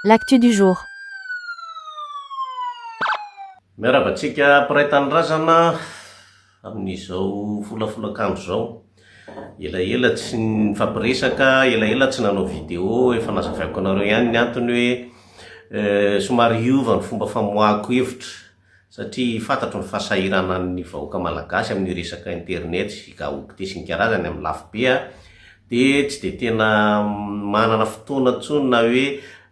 L'actu du jour. Miarahaba antsika mpiray tanindrazana amin'izao folafolakandro izao. Elaela tsy nifampiresaka, elaela tsy nanao vidéo, efa nazavaiko anareo ihany ny antony hoe somary hiova ny fomba famoahako hevitra satria fantatro ny fahasahiranan'ny vahoaka malagasy amin'ny resaka internet sy gaoty tesy ny karazany amin'ny lafo be aho dia tsy dia tena manana fotoana intsony na hoe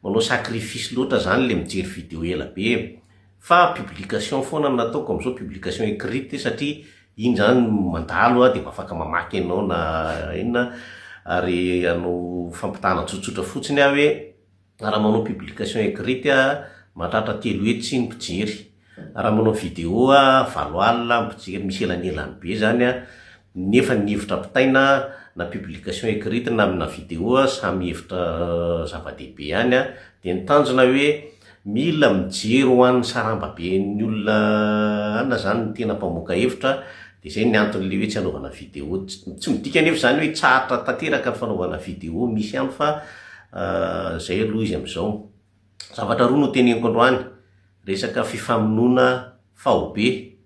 manao sacrifice loatra izany ilay mijery video ela be fa publication foana no nataoko amin'izao, publication écrite satria iny izany mandalo aho dia mba afaka mamaky anao na inona ary hanao fampitahana tsotsotra fotsiny aho hoe Raha manao publication écrite aho mahatratra telo hetsy ny mpijery. Raha manao vidéo aho valo alina ny mpijery, misy elanelany be izany an! nefa ny hevitra ampitaina na publication écrite na amina vidéo samy hevitra zava-dehibe ihany an! dia ny tanjona hoe mila mijery ho an'ny sarambaben'ny olona an! izany ny tena mpamoaka hevitra dia izay ny anton'ilay hoe tsy hanaovana vidéo, tsy midika anefa izany hoe tsy hahatra tanteraka ny fanaovana vidéo misy ihany fa Ahh zay aloha izy amizao. Zavatra roa no teneniko androany, resaka fifamonoana faobe,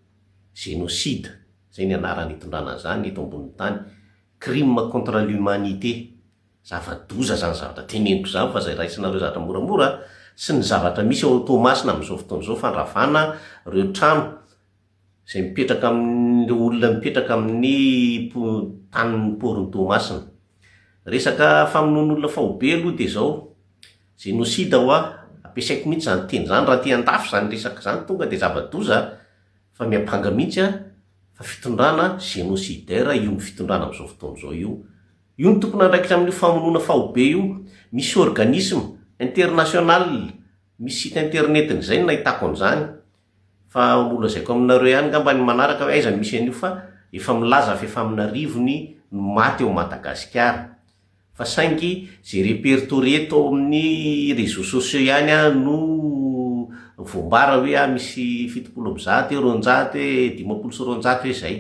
génocide, zay ny anarany itondrana an'izany eto ambonin'ny tany, crime contre l'humanité, zava-doza izany zavatra teneniko izany fa izay raisinareo zavatra moramora, sy ny zavatra misy ao Toamasina amin'izao fotoana izao, fandravana ireo trano, izay mipetraka amin'ny, ireo olona mipetraka amin'ny tanin'ny porony Toamasina. Resaka famonoan'olona faobe aloha dia izao, génocide ho'a, ampiasaiko mihintsy izany teny izany raha aty an-dafy izany resaka izany tonga dia zava-doza fa miampanga mihintsy an, fa fitondrana génocidaire io fitondrana amin'izao fotoana izao io. Io no tompon'andraikitra amin'io famonoana faobe io. Misy organisme international, misy site internet-ny izay no nahitako an'izany. Fa ho lazaiko aminareo ihany ngamba ny manaraka hoe aiza no misy an'io fa efa milaza fa efa amina arivony no maty ao Madagasikara. Fa saingy izay repertorier tao amin'ny réseaux sociaux ihany an no voambara hoe an misy fitopolo amby zato eo, roanjato e, dimampolo sy roanjato hoe izay.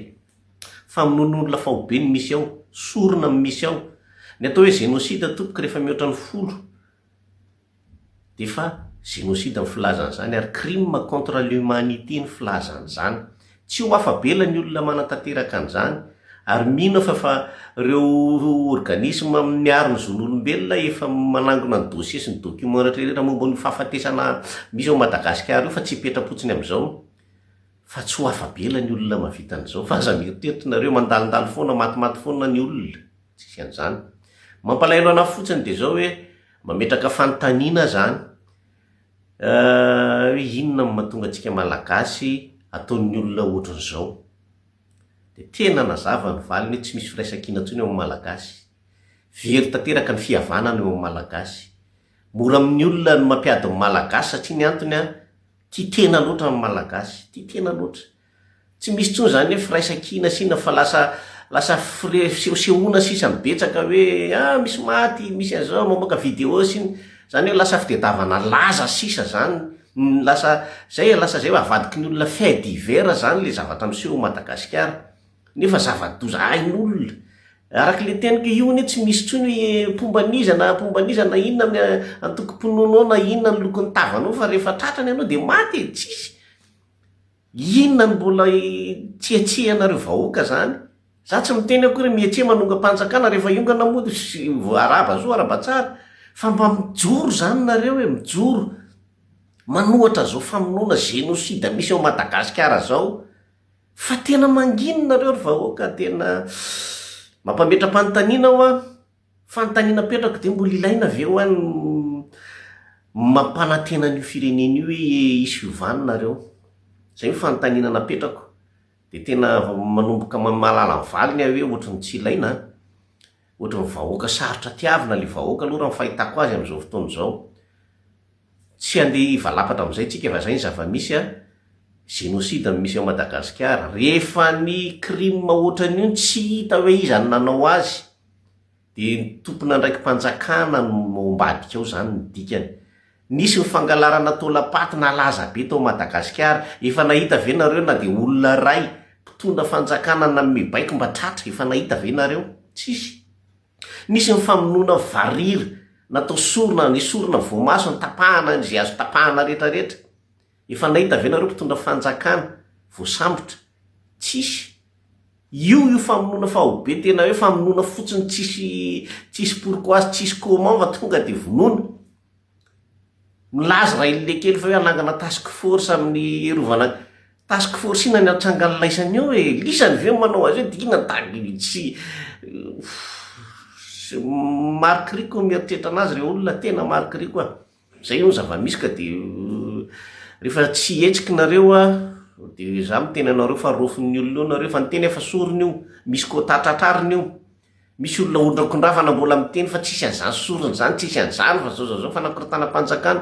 Famonoan'olona faobe no misy ao, sorona no misy ao. Ny atao hoe génocide tompoko rehefa mihoatra ny folo. Efa génocide ny filaza an'izany ary crime contre l'humanité ny filaza an'izany. Tsy ho afa-bela ny olona manatanteraka an'izany ary mino aho fa fa ireo organisme miaro ny zon'olombelona efa manangona ny dossier sy ny documents rehetrarehetra momba an'io fahafatesana misy ao Madagasikara io fa tsy hipetra-potsiny amin'izao fa tsy ho afa-bela ny olona mahavita an'izao fa aza mieritreritra nareo mandalondalo foana matimaty foana ny olona tsisy an'izany. Mampalahelo an'ahy fotsiny dia izao hoe Mametraka fanontaniana izany hoe inona no mahatonga antsika Malagasy ataon'ny olona ohatran'izao. Dia tena nazava ny valiny hoe tsy misy firaisankina intsony eo amin'ny Malagasy. Very tanteraka ny fihavanana eo amin'ny Malagasy. Mora amin'ny olona ny mampiady ny Malagasy satria ny antony an, tia tena loatra ny Malagasy, tia tena loatra. Tsy misy intsony izany hoe firaisan-kina sina fa lasa lasa fire fisehosehoana sisa mibetsaka hoe ah misy maty, misy an'izao, mamoaka vidéo sy ny, izany hoe lasa fitedavana laza sisa izany, ny lasa izay e, lasa izay hoe avadiky ny olona fait divers izany ilay zavatra miseho ao Madagasikara, nefa zava-doza hain'olona, araka ilay teniko, io anie tsy misy intsony hoe mpomba an'iza na mpomba an'iza na inona ny antokom-pinoanao na inona ny lokon'ny tavanao fa rehefa tratrany ianao dia maty e, tsisy. Inona no mbola hitsiatsiahanareo vahoaka zany? Za tsy miteny akory hoe mihetseha manongam-panjakana rehefa hiongana moa sy arahaba zo arahaba tsara fa mba mijoro zany nareo e, mijoro manohatra zao famonoana génocide misy ao Madagasikara zao fa tena mangina nareo ry vahoaka tena mampametra-panontaniana hoa. Fanontaniana apetrako dia mbola ilaina ve ho an ny mampanantena an io firenena io hoe hisy fiovana nareo? Izay no fanontaniana napetrako. Dia tena manomboka mahalala ny valiny aho hoe ohatry ny tsy ilaina an! Ohatry ny vahoaka sarotra tiavina ilay vahoaka aloha raha ny fahitako azy amin'izao fotoana izao. Tsy handeha hivalapatra amin'izay tsika fa izay ny zava-misy an! Génocide no misy ao Madagasikara. Rehefa ny crime ohatran'io no tsy hita hoe iza no nanao azy, dia ny tompon'andraiki-panjakana no ao ambadika ao izany ny dikany. Nisy ny fangalarana taolam-paty nalaza be tao Madagasikara, efa nahita ve nareo na dia olona iray mpitondra fanjakana nanome baiko mba tratra, efa nahita ve nareo? Tsisy. Nisy ny famonoana varira, natao sorona, nesorina voamaso, nitapahana izay azo tapahana rehetra rehetra. Efa nahita ve nareo mpitondra fanjakana voasambotra? Tsisy. Io io famonoana faobe tena hoe famonoana fotsiny tsisy tsisy pourquoi sy tsisy comment fa tonga dia vonoina. Milaza ray lilekely fa hoe hanangana task force amin'ny rovana task force inona ny atrangan'ny laisany eo e? Lisany ve no manao azy eo dia inona da tsy marikoriko ny mieritreritra anazy ireo olona tena marikoriko a! Zay no zavamisy ka de refa tsy hihetsiky nareo a de za miteny anareo fa rofin'ny olona eo nareo fa ny teny efa sorona io misy quota tratrarina io misy olona ondrakondravana mbola miteny fa tsisy an'zany sorona zany tsisy an'zany fa zao zao zao fanakorontanam-panjakana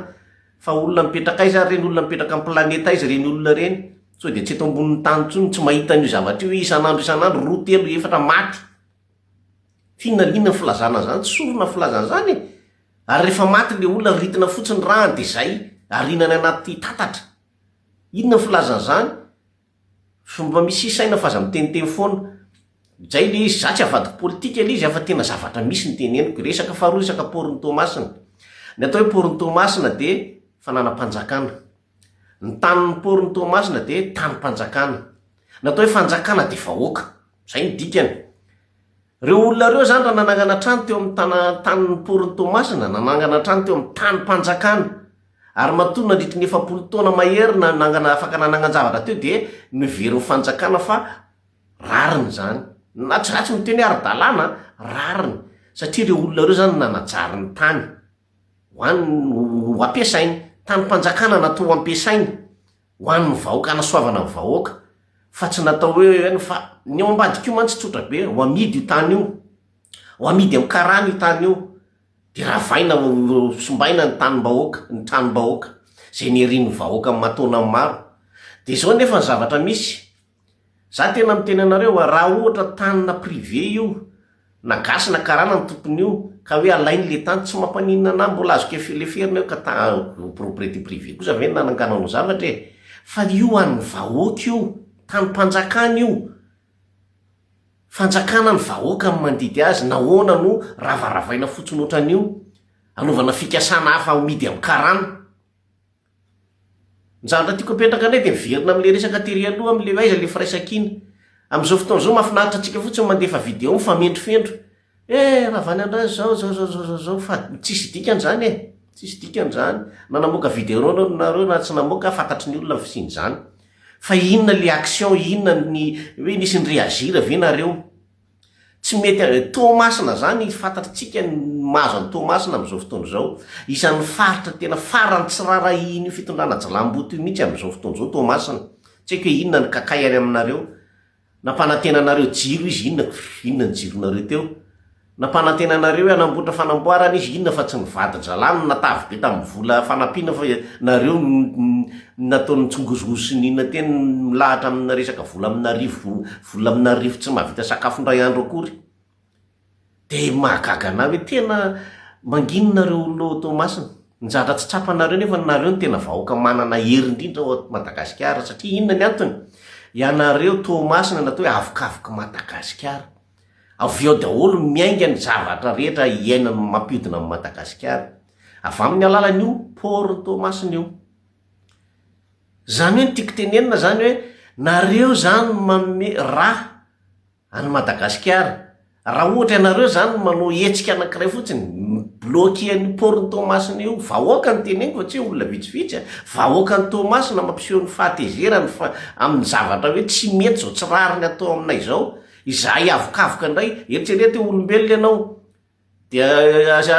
fa olona mipetraka aiza ary reny olona mipetraka am planeta aiza reny olona reny sao de tsy eto ambonin'ny tany tsony tsy mahita an'io zavatra io isan'andro isan'andro roa telo efatra maty Inona inona ny filazana an'izany? Tsy sorona ny filazana an'izany e! Ary rehefa maty ilay olona, ritina fotsiny ny ràny dia izay, ariana any anaty tatatra. Inona ny filazana an'izany? Fomba misy isaina f'aza miteniteny foana. Izay ilay izy, izaho tsy avadiko politika ilay izy a, fa tena zavatra misy no teneniko. Resaka faharoa resaka paoro ny Toamasina. Ny atao hoe paoro ny Toamasina dia fananam-panjakana. Ny tanin'ny poron'i Toamasina dia tanim-panjakana. Ny atao hoe fanjakana dia vahoaka. Izay no dikany. Ireo olona ireo izany raha nanangana trano teo amin'ny tana, tanin'ny poron'i Toamasina, nanangana trano teo amin'ny tanim-panjakana, ary matoa nandritry ny efapolo taona mahery na, nangana, afaka nanangan-javatra teo dia noheverin'ny fanjakana fa rariny izany. Na tsy ratsy miteny hoe ara-dalàna an, rariny. Satria ireo olona ireo izany no nanajary ny tany. ho an ho ampiasainy, tanim-panjakana natao ho ampiasainy ho an'ny vahoaka, hanasoavana ny vahoaka, fa tsy natao hoe eo ihany fa ny ao ambadika io mantsy tsotra be, ho amidy io tany io, ho amidy amin'ny karana io tany io, dia ravaina simbaina ny tanim-bahoaka, ny tranom-bahoaka, izay nerin'ny vahoaka aman-taonany maro, dia izao anefa ny zavatra misy, Za tena miteny anareo a, raha ohatra tanina privé io, na gasy na karana ny tompon'io, ka hoe alainy le tany, tsy mampaninona anahy, mbola azo kef leferina io ka ta propriété privée kosa ve ny nananganao ny zavatra e! fa io an'ny vahoaka io, tanim-panjakana io, fanjakana ny vahoaka no mandidy azy, nahoana no ravaravaina fotsiny ohatran'io, anaovana fikasana hafa amidy amin'ny karana. Ny zavatra tiako apetraka indray dia miverina amin'ilay resaka tery aloha amin'ilay hoe aiza ilay firaisankina. Amin'izao fotoana izao mahafinaritra antsika fotsiny ny mandefa video mifamendrofendro. Eh, Ravaniandriana izao, izao, izao, izao, izao, fa tsisy dikany izany e! Tsisy dikany izany. Na namoaka video nareo na tsy namoaka, fantatry ny olona ny fisian'izany. Fa inona ilay action, inona ny, hoe nisy ni-reagir ve nareo? Tsy mety avy any Toamasina zany, fantatritsika ny mahazo an'i Toamasina amin'izao fotoana izao. Isan'ny faritra tena farany tsy raharahihin'io fitondrana jilamboto io mihitsy amin'izao fotoana izao Toamasina. Tsy haiko hoe inona ny kakay any aminareo. Nampanantena anareo jiro izy, inona inona ny jironareo teo? Nampanantena anareo hoe hanamboatra fanamboarana izy, inona fa tsy ny vadin-dRalahy no natavy be tamin'ny vola fanampiana fa nareo no nataony nitsongozohozo sy nihina teny milahatra amina resaka vola amin'arivony Vola amina arivo tsy mahavita sakafo indray andro akory. Dia mahagaga anah hoe tena manginy nareo olona ao Toamasina. Njatra tsy tsapanareo nefa nareo no tena vahoaka manana hery indrindra ao Madagasikara satria inona ny antony? Ianareo Toamasina natao hoe avokavoky Madagasikara. Avy ao daholo no miainga ny zavatra rehetra iainan'ny mampiodina an'i Madagasikara. Avy amin'ny alalan'io port-n'i Toamasina io. Zany hoe ny tiako tenenina zany hoe nareo zany no manome raha any Madagasikara. Raha ohatra ianareo zany no manao hetsika anakiray fotsiny, mi-bloquer an'io port-n'i Toamasina io, vahoaka no teneniko fa tsy hoe olona vitsivitsy a, vahoakan'i Toamasina mampiseho ny fahatezerany fa amin'ny zavatra hoe tsy mety zao, tsy rariny atao aminay zao. Izahay avokavoka indray, eritrereto hoe olombelona ianao, Dia aza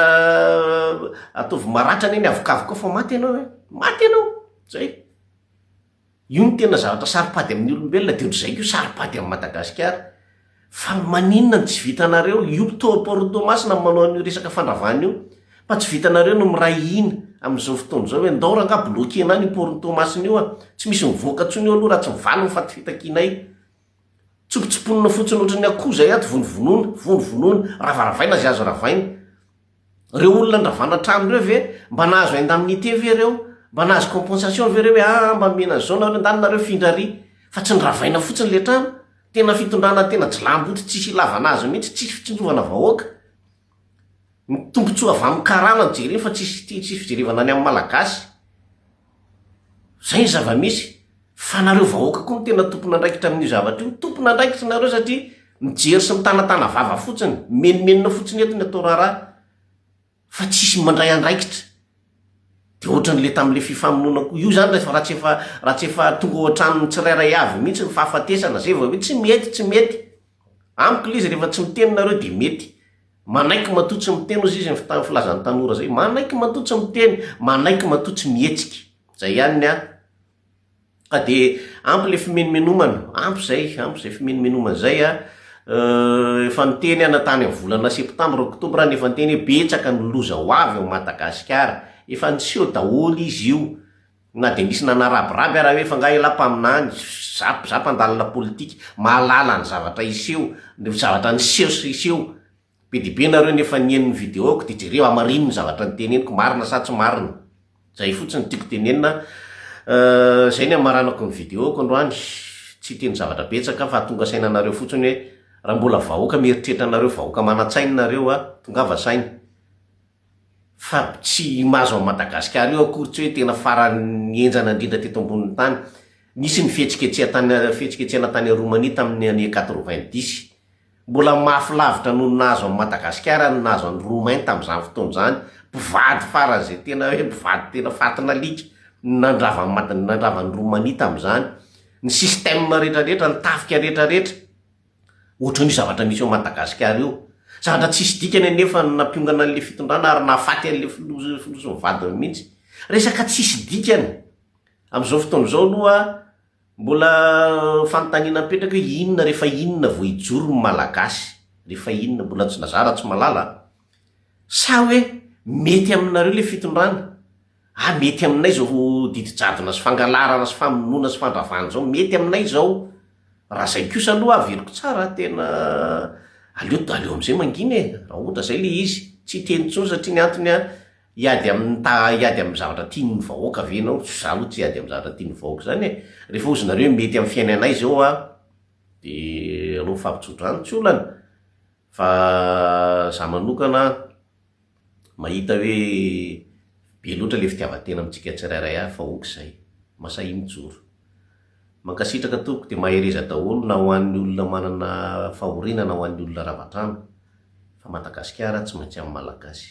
ataovy maratra anie ny avokavoka fa maty ianao e! Maty ianao! Zay! Io no tena zavatra saropady amin'ny olombelona dia ohatr'izay koa saropady amin'i Madagasikara. Fa maninona no tsy vitanareo? Io mpitory porno Toamasina no manao an'io resaka fandravana io. Fa tsy vitanareo ny miray hina amin'izao fotoana izao hoe ndao rangah bloquena any io porno Toamasina io a! Tsy misy mivoaka intsony eo aloha raha tsy mivaly ny fatifitak'inay. Tsopotsopona fotsiny ohatran'ny akoho izay ato, vonovonoina, vonovonoina, ravaravaina izay azo ravaina. Ireo olona andravana trano ireo ve mba nahazo indemnité ve ireo? Mba nahazo compensation ve ireo hoe ah mba nomena an'izao nareo, ndany nareo hifindra ary? Fa tsy noravaina fotsiny ilay trano. Tena fitondrana tena jilamboto tsisy ilavana azy mihitsy, tsisy fitsinjovana vahoaka. Ny tombotsoa avy amin'ny karana no jereny fa tsisy ity tsisy fijerevana ny amin'ny malagasy. Zay ny zava-misy. Fa nareo vahoaka koa no tena tompon'andraikitra amin'io zavatra io. Tompon'andraikitra nareo satria mijery sy mitanatana vava fotsiny. Mimenomenona fotsiny eto ny atao raharaha fa tsisy mandray andraikitra. Dia ohatran'ilay tamin'ilay fifamonoana koa. Io izany rehefa raha tsy efa raha tsy efa tonga ao an-tranon'ny tsirairay avy mihitsy ny fahafatesana zay vao hoe tsy mety, tsy mety. Amiko le izy rehefa tsy miteny nareo de mety Manaiky matoa tsy miteny ozy izy ny filazany tanora zay Manaiky matoa tsy miteny Manaiky matoa tsy mihetsika Zay ihany ny ahy Ka de ampy le fimenomenomana Ampy zay ampy zay fimenomenomana zay a Euh efa niteny aho na tany amin'ny volana septambra octobre aho nefa niteny hoe betsaka ny loza ho avy ao Madagasikara Efa niseho daholo izy io Na dia nisy nanarabiraby ara hoe fa nga elah mpaminany, za za mpandalina politika, mahalala ny zavatra hiseho, ny zavatra niseho sy hiseho. Be dia be nareo nefa nihaino ny video-ko dia jereo hamarino ny zavatra niteneniko, marina sa tsy marina. Zay fotsiny tiako tenenina. Euh, zay ny hamaranako ny video-ko androany. Tsy hiteny zavatra betsaka fa hatonga saina anareo fotsiny hoe raha mbola vahoaka mieritreritra anareo vahoaka manan-tsaina nareo a, tongava saina. fa tsy i Mazo an'i Madagasikara io akory tsy hoe tena faran'ny henjana indrindra teto ambonin'ny tany. Nisy ny fihetsiketseha tany fihetsiketsehana tany Roumanie tamin'ny année quatre-vingt-dix. Mbola mafy lavitra noho ny nahazo an'i Madagasikara ny nahazo an'i Roumain tamin'izany fotoana izany. Mpivady faran'izay tena hoe mpivady tena fatin'alika no nandravan'i Mada- nandravan'i Roumanie tamin'izany. Ny système rehetrarehetra, ny tafika rehetrarehetra. Ohatran'io zavatra misy ao Madagasikara io. Zavatra tsisy dikany anefa no nampiongana an'ilay fitondrana ary nahafaty an'ilay filoha filoha sy ny vadiny mihitsy. Resaka tsisy dikany. Amin'izao fotoana izao aloha mbola fanontaniana mipetraka hoe inona rehefa inona vao hijoro ny Malagasy? Rehefa inona? Mbola tsy nazara Ratsimalala a! Sa hoe mety aminareo ilay fitondrana? Ah mety aminay izao didijadona sy fangalarana sy famonoana sy fandravana izao, mety aminay izao, raha izay kosa aloha averiko tsara, tena aleo aleo amin'izay mangina e! raha ohatra izay ilay izy, tsy hiteny intsony satria ny antony an, hiady amin'ny ta hiady amin'ny zavatra tian'ny vahoaka ve ianao? Izaho aloha tsy hiady amin'ny zavatra tian'ny vahoaka izany e! rehefa ozy nareo mety amin'ny fiainanay izao an, dia aleo mifampitsodrano tsy olana, Fa za manokana an, mahita hoe be loatra ilay fitiavan-tena amintsika tsirairay avy fa ok izay, masahy mijoro. Mankasitraka tompoko dia mahereza daholo na ho an'ny olona manana fahoriana na ho an'ny olona rava-trano fa Madagasikara tsy maintsy amin'ny Malagasy.